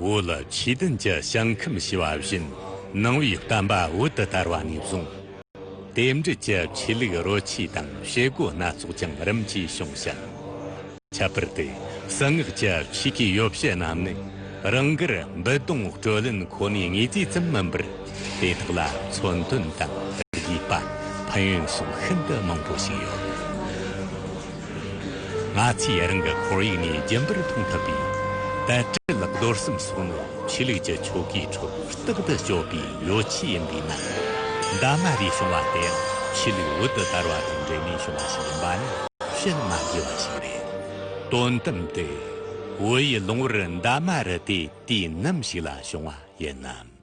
འོད་ལ་ཆོས་བདུན་གྱི་ཞིང་ཁམས་ཞེས་པ་བཞིན་སྣང་བའི་བསྟན་པ་འོད་དུ་དར་བ་ནས་བཟུང། རྟེན་འབྲེལ་གྱི་ཆོས་ལུགས་རོ་ཆས་དང་བྱེད་སྒོ་སྣ་ཚོགས་ཀྱང་རིམ་གྱིས་བྱུང་ཞིང། ཁྱད་པར་དུ་གསང་སྔགས་ཀྱི་ཆོས་ཀྱི་ཡོ་བྱད་རྣམས་ནི་རང་དགར་འབུད་རྡུང་བཀྲོལ་ལེན་ཁོ་ནའི་ངེས་ཚིག་ཙམ་མིན་པར། དེ་དག་ལ་མཚོན་དོན་དང་རིགས་པ་ཕན་ཡོན་སོགས་ཤིན་ཏུ་མང་པོ་ཞིག་ཡོད། ང་ཚོས་རང་གི་ཁོར་ཡུག་ནས་རྒྱུན་པར་མཐོང་ཐུབ་པའི་དལ་བྲེལ་རྡོར་གསུམ་སོགས་ནི་ཆོས་ལུགས་ཀྱི་ཆོ་གའི་ཁྲོད་རྟག་ཏུ་སྤྱོད་པའི་ཡོ་བྱད་ཡིན་པས་ན། འདབ་མ་རེ་བྱུང་བ་དེ་ཡང་ཆོས་ལུགས་འོད་དུ་དར་བ་དང་འབྲེལ་ནས་བྱུང་བ་ཞིག་ཡིན་པ་ནི་ཤེས་མ་དགོས་པ་ཞིག་རེད། དོན་དམ་དུ། འོད་ཡིད་ལོང་བར་འདབ་མ་རེ་དེ་དུས་ནམ་ཞིག་ལ་བྱུང་བ་ཡིན་ནམ།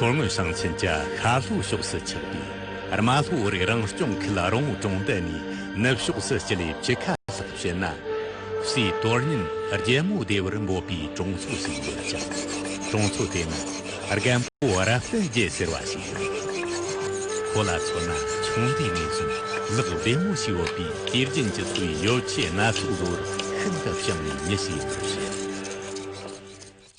མཚོ་སྔོན་ཞིང་ཆེན་གྱི་ཤར་ལྷོའི་ཕྱོགས་སུ་ཆགས་པའི་རྨ་ལྷོ་རིགས་རང་སྐྱོང་ཁུལ་རོང་བོ་གྲོང་རྡལ་ནས་ནུབ་ཕྱོགས་སུ་སྤྱི་ལེ་བཅུ་ཁ་ལྷག་བྱས་ན་སའི་དོ་སྙོམས་རྒྱལ་མོ་བདེ་བར་འབོད་པའི་གྲོང་ཚོ་ཞིག་ཡོད་ཀྱང། གྲོང་ཚོ་དེ་ནི་རྒན་པོ་རབ་བརྟན་རྒྱལ་ཟེར་བ་ཞིག་ཡིན། ཁོ་ལ་མཚོན་ན་ཆུང་དུས་ནས་བཞིན་ལག་བདེ་མོ་ཞིག་ཡོད་པས་སྐྱེས་རྒྱན་གྱི་འཚོ་བའི་ཡོ་བྱད་སྣ་ཚོགས་བཟོ་བར་ཤིན་ཏུ་ཤུགས་ནས་མྱི་ཞིག་ཡིན་པར་བཤད།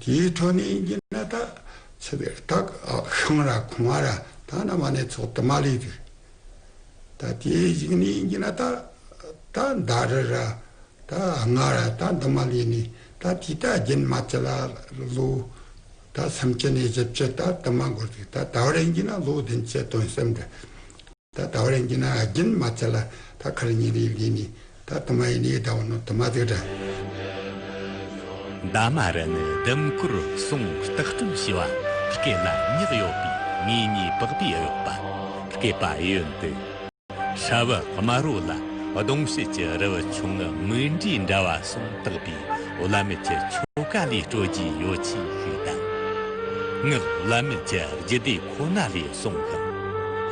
དེའི་ཐོག་ནས་ཡིན་གྱི་ན་ད་ཚེ་བའི་རྟགས་ཤིང་ར་གོང་ར་ད་ནམ་བ་ནས་ཚོགས་དུ་མ་ལས་དུས་ད་དེའི་གཞིག་ནས་ཡིན་གྱི་ན་ད་ད་ཟླ་རི་ར་ད་སྔ་ར་ད་འདི་མ་ལས་ནས་ད་དེ་ད་རྒྱུན་མ་ཅི་ལ་ལོ་ད་སུམ་བཅུ་ནས་བཞི་བཅུ་ད་དུ་མ་འགོར་དུས་ད་ད་བར་ཡིན་གྱི་ན་ལོ་བདུན་བཅུ་དོན་གསུམ་འདི། ད་ད་བ་རན་གྱི་ན་ཨ་རྒྱན་མ་ཚད་ལ་ད་ཁ་ར་ཉན་རི་ཡིག་འདི་ནི་ད་དུ་མ་ཡིན་ནི་ཡིག་ད་བ་ནོ་དུ་མ་ཚིག་འདྲ། འདའ་མ་ར་ནི་ལྡེམ་བསྐོར་སྲུང་བརྟག་སྐྲུན་བྱེ་བ་སྐེ་ལ་མྱག་ཡོད་པའི་ངེས་ཉེས་དཔག་པའི་ཨུ་པ་སྐེ་པ་ཡོན་ཏི་ཧྲ་བི་དམར་བོ་ལ་གདོང་བྱེད་ཀྱི་རི་བི་ཆུང་ངུ་མིག་འབྲས་འདྲ་བ་སྲུང་བརྟག་པའི་བླ་མེད་ཀྱི་ཆོ་ག་ལས་སྤྲོ་རྒྱའི་ཡོ་བྱད་ཞིག་དང། སྔགས་བླ་མེད་ཀྱི་རྒྱུད་སྡེ་ཁོ་ན་ལས་གསུངས་ཤིང།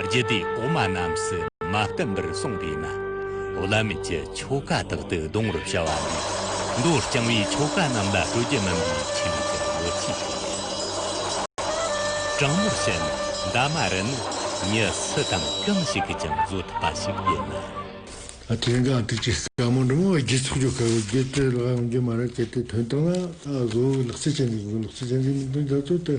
རྒྱུད་སྡེ་གོང་མ་རྣམས་སུ་མ་བསྟན་པར་གསུངས་པས་ན། བླ་མེད་ཀྱི་ཆོ་ག་དག་ཏུ་གདོན་བར་བྱ་བ་ལས། མདོར་བསྐྱང་བའི་ཆོ་ག་རྣམས་ལ་སྤྲོ་སྐྱིད་སྨིན་པའི་ཆེད་ལུགས་ཀྱི་ལོ་ཚིགས་ཤིག་ཡིན། དྲང་མོར་བཤད་ན་འདབ་མ་རི་ནི་ཉི་སི་དང་གང་ཞིག་གིས་ཀྱང་བཟོ་ཐུབ་པ་ཞིག་ཡིན་ན། དེ་འགའ་དུས་ཀྱི་ཟབ་མོ་འབྲི་མོ་བའི་རྒྱུད་ཚོགས་ཆོ་ག་གི་རྒྱུད་སྤྲོས་ལའང་རྒྱུད་མ་རབས་བསྐྱེད་དེ་དོན་བཏང་ན། བཟོ་བོའི་ལག་རྩལ་ཅན་དང་གཟུགས་ཀྱི་ལག་རྩལ་ཅན་གྱི་མིང་དོན་རྒྱ་མཚོ་སྟེ།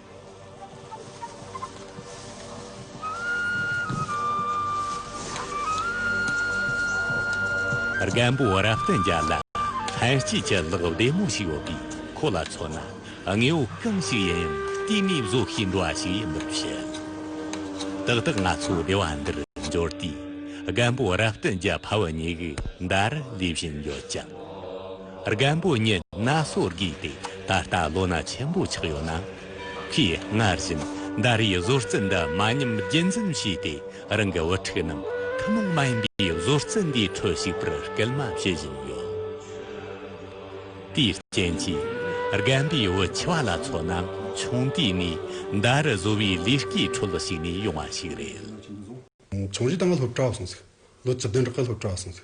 རྒན་པོ་རབ་བརྟན་རྒྱ་ལ་ལྷན་སྐྱེས་ཀྱི་གློག་བདེ་མོ་ཞིག་ཡོད་པས་ཁོ་ལ་མཚོན་ན་དངོས་པོ་གང་ཞིག་ཡིན་ཡང་བལྟས་མིན་བཟོ་ཤེས་འགྲོ་བ་ཞིག་ཡིན་པར་བཤད། ཏག་ཏག་ང་ཚོ་སྡེ་བ་འདིར་འབྱོར་དུས་རྒན་པོ་རབ་བརྟན་གྱི་ཕ་བུ་གཉིས་ཀྱིས་འདར་ལེན་བཞིན་ཡོད་ཅིང། རྒན་པོ་ཉིད་ན་སོ་དགོས་ཏེ་ད་ལྟ་ལོ་ན་ཆེན་པོ་ཆགས་ཡོད་ན། ཁོས་སྔར་བཞིན་ཟླ་རེའི་བཟོ་རྩལ་འདི་མ་ཉམས་རྒྱུན་འཛིན་བྱས་ཏེ་རང་གི་བུ་ཕྲུག་རྣམས་ཐུན་མོང་མ་ཡིན་པའི་བཟོ་རྩལ་འདིའི་ཁྲོད་ཞུགས་པར་སྐུལ་མ་བྱེད་བཞིན་ཡོད། དེའི་རྐྱེན་གྱིས་རྒན་པའི་བུ་ཆེ་བ་ལ་མཚོན་ན་ཆུང་དུས་ནས་ཟླ་རེ་བཟོ་བའི་ལས་ཀའི་ཁྲོད་ཞུགས་ནས་ཡོང་བ་ཞིག་རེད། ཆུང་དུས་ད་ང་སློབ་གྲྭར་སོང་ཚེ་ལོ་བཅུ་བདུན་རེ་སློབ་གྲྭར་སོང་ཚེ་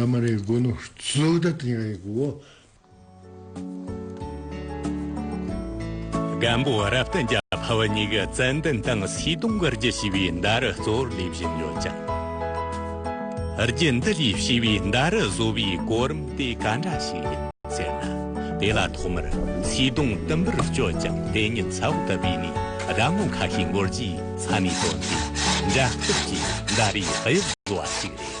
ཡང་མ་རེད་དགོས་ནོ་བཟོ་ལྟ་དེ་ཡང་ཡིན་དགོས། སྒམ་པོ་རབ་བརྟན་རྒྱ་བྷ་བ་གཉིས་ཀྱི་རྩལ་འདོན་དང་སྲིད་གདུང་གི་རྒྱུད་བྱིས་པའི་མདའ་རུ་གཙོ་བོར་སླེབས་བཞིན་ཡོད་ཀྱང། རྒྱུད་འདི་ལས་བྱིས་པའི་མདའ་རུ་བཟོ་བའི་གོ་རིམ་དེ་ག་འདྲ་ཞིག་ཡིན་ཟེར་ན། དེ་ལ་ཐོག་མར་སྲིད་གདུང་དུམ་བུར་བསྐྱོད་ཅིང་དེ་ཉིད་ཚ་བོ་དུ་བས་ནས་ར་ངོ་ཁ་ཤས་འགོར་རྗེས་ཚ་ནས་བཏོན་ཏེ་འདྲ་སྐུབ་ཀྱིས་མདའ་རུའི་དབྱིབས་བཟོ་བ་ཞིག་རེད།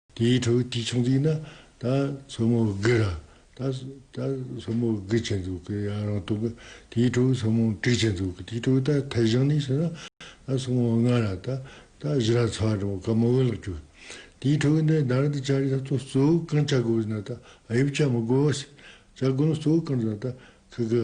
དེའི་ཁྲོད་ཀྱི་ཆུང་དུས་ན་ད་མཚོ་མོ་དགུ་ར་ད་ད་མཚོ་མོ་དགུ་བྱས་འདུག་གི་ཡང་རང་རྟོགས་གི་དེའི་ཁྲོད་མཚོ་མོ་དྲུག་བྱས་འདུག་གི་དེའི་ཁྲོད་ད་ཐེ་ཞང་ནས་བྱས་ན་ད་མཚོ་མོ་ལྔ་ར་ད་ད་བཞི་ར་ཚ་བ་འདྲ་བོ་ག་མ་འོས་ལགས་ཀྱོ། དེའི་ཁྲོད་ནས་ད་རེ་ད་བྱ་རེ་ད་གཙོ་གཙོ་བོ་གང་བྱ་དགོས་ཟེར་ན་ད་ཨ་ཡོད་བྱ་མི་དགོས་བ་ཟེར་བྱ་དགོས་ན་གཙོ་བོ་གང་ཟེར་ན་ད་ཁི་གི་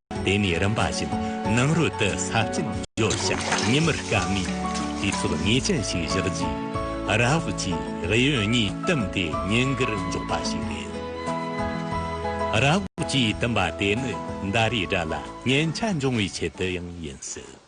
དེ་ནས་རིམ་པ་བཞིན་ནང་རོལ་དུ་ས་སྐྱིན་བརྗོད་ཞིང་ཉི་མུར་སྐར་མའི་དུས་ཚོད་ངེས་ཅན་ཞིག་བཞག་རྗེས་རཱ་ཧུལ་གྱིས་རི་ཡོལ་གཉིས་བཏུམས་ཏེ་ཉིན་འགར་འཇོག་པ་ཞིག་རེད། རཱ་ཧུལ་གྱིས་བཏུམས་པ་དེ་ནི་ཟླ་རེའི་དགྲ་ལ་ཉེན་ཆ་འབྱུང་བའི་ཆེད་དུ་ཡང་ཡིན་སྲིད།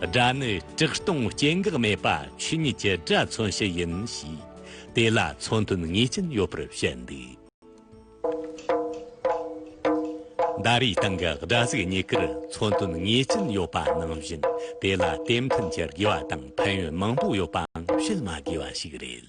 སྒྲ་ནི་དྲག་སྟོང་སྐྱེ་འགག་མེད་པ་ཆོས་ཉིད་ཀྱི་སྒྲ་མཚོན་བྱེད་ཡིན་ཞེས། དེ་ལ་མཚོན་དོན་ངེས་ཅན་ཡོད་པར་བཤད་འདུག། ཟླ་རེའི་སྟེང་གི་སྒྲ་གཟུགས་གཉིས་ཀར་མཚོན་དོན་ངེས་ཅན་ཡོད་པ་ནང་བཞིན་དེ་ལ་དེ་མཐུན་གྱི་དགེ་བ་དང་ཕན་ཡོན་མང་པོ་ཡོད་པའང་བཤད་མ་དགོས་པ་ཞིག་རེད།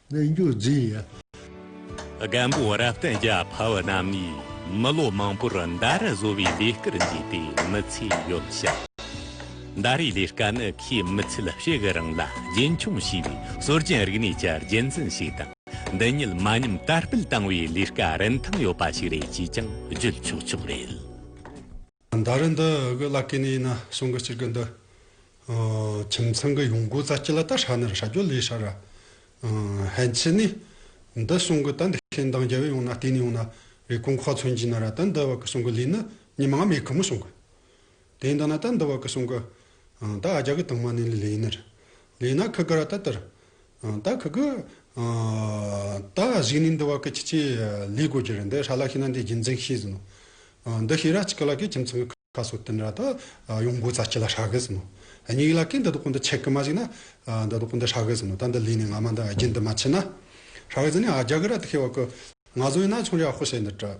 གནས་མཇུག་འཛིན་ཡ། རྒན་པོ་རབ་བརྟན་རྒྱ་བྷ་བ་རྣམས་ནས་མི་ལོ་མང་པོར་མདའ་ར་བཟོ་བའི་ལས་སྐལ་མཛད་པའི་མི་ཚེ་ཡོད་ཞིང། མདའ་རའི་ལས་སྐལ་ནི་ཁོའི་མི་ཚེའི་གཤེགས་གི་རིང་ལ་རྒྱུན་འཁྱོངས་བྱས་པའི་སྲོལ་རྒྱུན་རིག་གནས་ཀྱི་རྒྱུན་འཛིན་ཞིག་དང་འདི་ཉིད་མ་ཉམས་དར་སྤེལ་བཏང་བའི་ལས་སྐལ་རིན་ཐང་ཡོད་པ་ཞིག་རེད་ཅེས་ཀྱང་བརྗོད་ཆོག་ཆོག་རེད། ཟླ་རེ་འདི་གི་བླ་སྐེ་ནས་ཡིན་ན་སོང་གི་སྤྱིར་གི་འདི། ཁྱིམ་ཚང་གི་ཡོང་སྒོ་རྩ་སྐྱི་ལ་ད་ཧྲ་ནི་ར་ཧྲ་རྒྱོ་ལི་ཧྲ་ར། ཧན་ཆི་ནི། འདི་སོང་གི་ད་འདི་ཁེ་མདང་རྒྱལ་བས་ཡོང་ན་བལྟས་ནས་ཡོང་ན་རེ་ཀོང་ཁོག་ཚོན་གྱི་ན་ར་ད་འདི་བ་གི་སོང་གི་ལི་ནི་ཉི་མ་མེ་ཁི་མོ་སོང་གི། དེ་འདི་ན་ད་འདི་བ་གི་སོང་གི། ད་ཨ་རྒྱ་གི་དང་མ་ནི་ལི་ལི་ཡིན་ནི་རི། ལི་ཡིན་ན་ཁི་གི་ར་ད་དི་རི། ད་གི་གི། ད་གཞིག་ནི་འདི་བ་གི་ཁྱི་ཁྱི་ལི་དགོས་ཀྱི་རེད་འདི་ཧྲ་ལ་ཤི་ན་འདི་རྒྱུ་མཚན་ཤེས་ཟིན་ནོ། འདི་ཤི་ར་ཅི་གི་ལ་གི་ཁྱིམ་ཚང་གི་ཁ་སོ་ཏིན་ར་ད་ཡོང་དགོས་ཙ་ཁྱི་ལ་ཧྲ་གི་ཟིན་ནོ། སྙིགས་ལ་གི་འདི་དོག་གི་འདི་ཆེ་གི་མ་གཞིག་ན། འདི་དོག་གི་འདི་ཧྲ་གི་ཟིན་ནོ་ད་འདི་ལུས་ནི་ང་མ་འདི་རྒྱུན་འདི་མ་ཆི་ན། ཧྲ་གི་ཟིན་ནི་ཨ་རྒྱ་གི་ར་ཏི་ཁེ་བ་གི། ང་ཟོ་ཡིན་ན་ཆུང་ར་ཧོ་ཤེས་འདི་བྲི།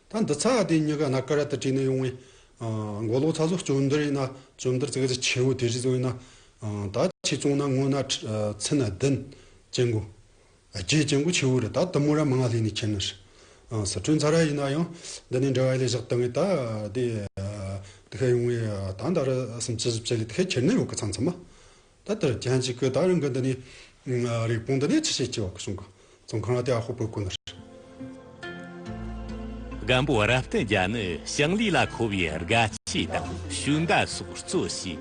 ད་འདི་ཚ་དེ་གཉིས་ཀ་ན་ཀ་ར་ཏི་ཀྲི་ནས་ཡོང་བའི། མགོ་ལོག་ཚ་བཟོ་བཅོམ་འདི་རེད་ན་བཅོམ་འདིར་ཙི་ག་ཙི་ཆེ་བོ་དེ་རིགས་བཟོས་ན། ད་ཁྱི་བཙོང་ན་སྔོ་ན་ཚི་ན་བདུན། སྐྱེ་དགུ། བརྒྱད་སྐྱེ་དགུ་ཆེ་བོ་རེད་ད་དུམ་མོ་ར་མ་ང་ལྷས་ནས་ཁྱེར་ནི་རེད། ཟི་ཁྲོན་ཚ་ར་ཡིན་ན་ཡང་འདི་ནས་འབྲེལ་བ་ཡེ་ལས་བཞག་ཏི་ངས་ད་དེ། དེ་ཁས་ཡོང་བའི་ད་འདའ་ར་སུམ་བཅུ་བཞི་བཅུ་ལས་དེ་ཁས་ཁྱེར་ནི་ཡོང་གི་ཚང་ཚང་མ། ད་ལྟར་རྒྱན་གཅིག་གི་དག་རིང་གི་འདི་ནི། རིགས་སྤུངས་འདི་ནས་ཆུ་ཤེལ་གྱི་བར་གསུང་གི། ཙོང་ཁ་ན་ཏི་ཨ་ཧོ་པོའི་སྐུ་ན་རེ། སྒམ་པོ་རབ་བསྟན་རྒྱ་ནི་ཞིང་ལས་ལ་མཁོ་བའི་རྒ་སྐྱེས་དང་ཞུན་བརྡ་སོགས་གཙོ་བྱས།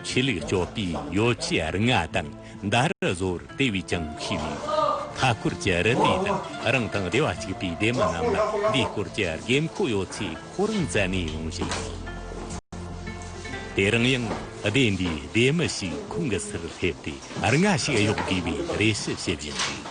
ཆོས་ལུགས་སྤྱོད་པའི་ཡོ་བྱད་རིགས་ལྔ་དང་མདའ་རུ་བཟོ་བར་དེ་བས་ཀྱང་ཤེས་ནུས། མཐའ་སྐོར་གྱི་རི་དེ་དང་རང་དང་སྡེ་བ་གཅིག་པའི་སྡེ་མི་རྣམས་ལ་འདིའི་སྐོར་གྱི་དགོས་མཁོ་ཡོད་ཚེ། ཁོ་རང་བཙལ་ནས་ཡོང་བཞིན་ཡོད། དེར་ཡང་སྡེ་འདིའི་སྡེ་མི་ཞིག་ཁོང་གི་སར་སླེབས་ཏེ་རེ་འགའ་ཞིག་གཡོག་དགོས་པའི་རེ་ཞུ་བྱེད་བཞིན་འདུག།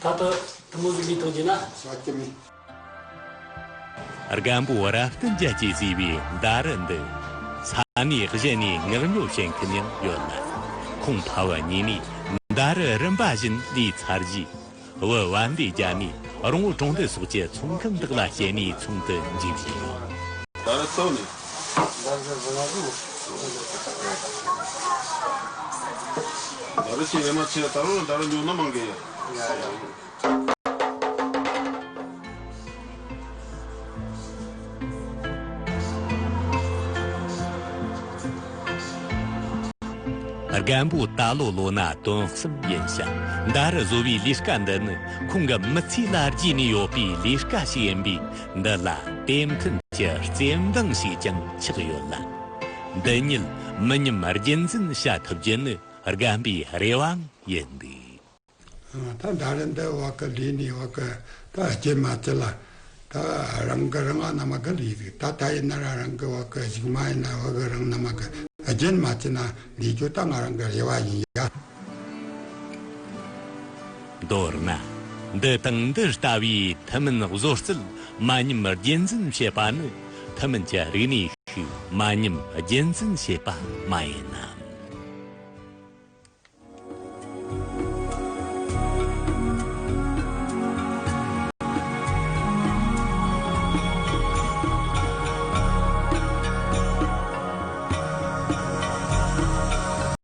ད་ལྟ་ཐུན་མོང་གི་མི་ཐོག་རྒྱུ་ན། ཟ་ཀི་མི། རྒན་པོ་རབ་བརྟན་རྒྱལ་གྱིས་བརྩིས་པའི་ཟླ་རི་འདི། ས་གནས་གཞན་ནས་ངག་ཉོ་བྱེད་མཁན་ཡང་ཡོད་ལ། ཁོང་ཕ་བ་གཉིས་ནས་ཟླ་རི་རིམ་པ་བཞིན་ལས་ཚར་རྗེས། བུ་དབལ་འདི་རྒྱ་ནས་རོང་བོ་གྲོང་སྡེ་སོགས་ཀྱི་ཚོང་ཁང་དག་ལ་བསྐྱལ་ནས་ཚོང་དུ་འཇུག་བཞིན་ཡོད། ཟླ་རི་སོགས་ནས་རྒན་པོ་ད་ལོ་ལོ་ན་དོན་གསུམ་ཡིན་ཞིང་ཟླ་རེ་བཟོ་བའི་ལས་ཀ་འདི་ནི་ཁོང་གི་མི་ཚེའི་ལ་བརྗེས་ནས་ཡོད་པའི་ལས་ཀ་ཞིག་ཡིན་པས་འདི་ལ་དེབ་མཐུན་གྱི་རྩེ་འདང་ཞིག་ཀྱང་ཆགས་ཡོད་ལ། འདི་ཉིད་མི་ཉམས་རྒྱུན་འཛིན་བྱ་ཐུབ་རྒྱུ་ནི་རྒན་པའི་རེ་བའང་ཡིན་འདུག། ད་ཟླ་རེ་འདི་བ་ཀི་ལི་ནི་བ་ཀི་ད་སྐྱེས་མ་སྐྱེས་ལ་ད་རང་གི་རང་ཨ་ན་མ་ཀི་ལི་ཟིག་ད་ད་ཡིན་ན་ར་རང་གི་བ་ཀི་ཞིག་མ་ཡིན་ན་བ་ཀི་རང་ན་མ་ཀི་སྐྱེས་ན་མ་སྐྱེས་ན་འདི་རྒྱུ་ད་ང་རང་གི་རེ་བ་ཡིན་ཡ། མདོར་ན། འདི་དང་འདི་ལྟ་བུའི་ཐུན་མིན་བཟོ་རྩལ་མ་ཉམས་རྒྱུན་འཛིན་བྱེད་པ་ནི་ཐུན་མིན་གྱི་རིག་གནས་ཤིག་མ་ཉམས་རྒྱུན་འཛིན་བྱེད་པ་མ་ཡིན་ནམ།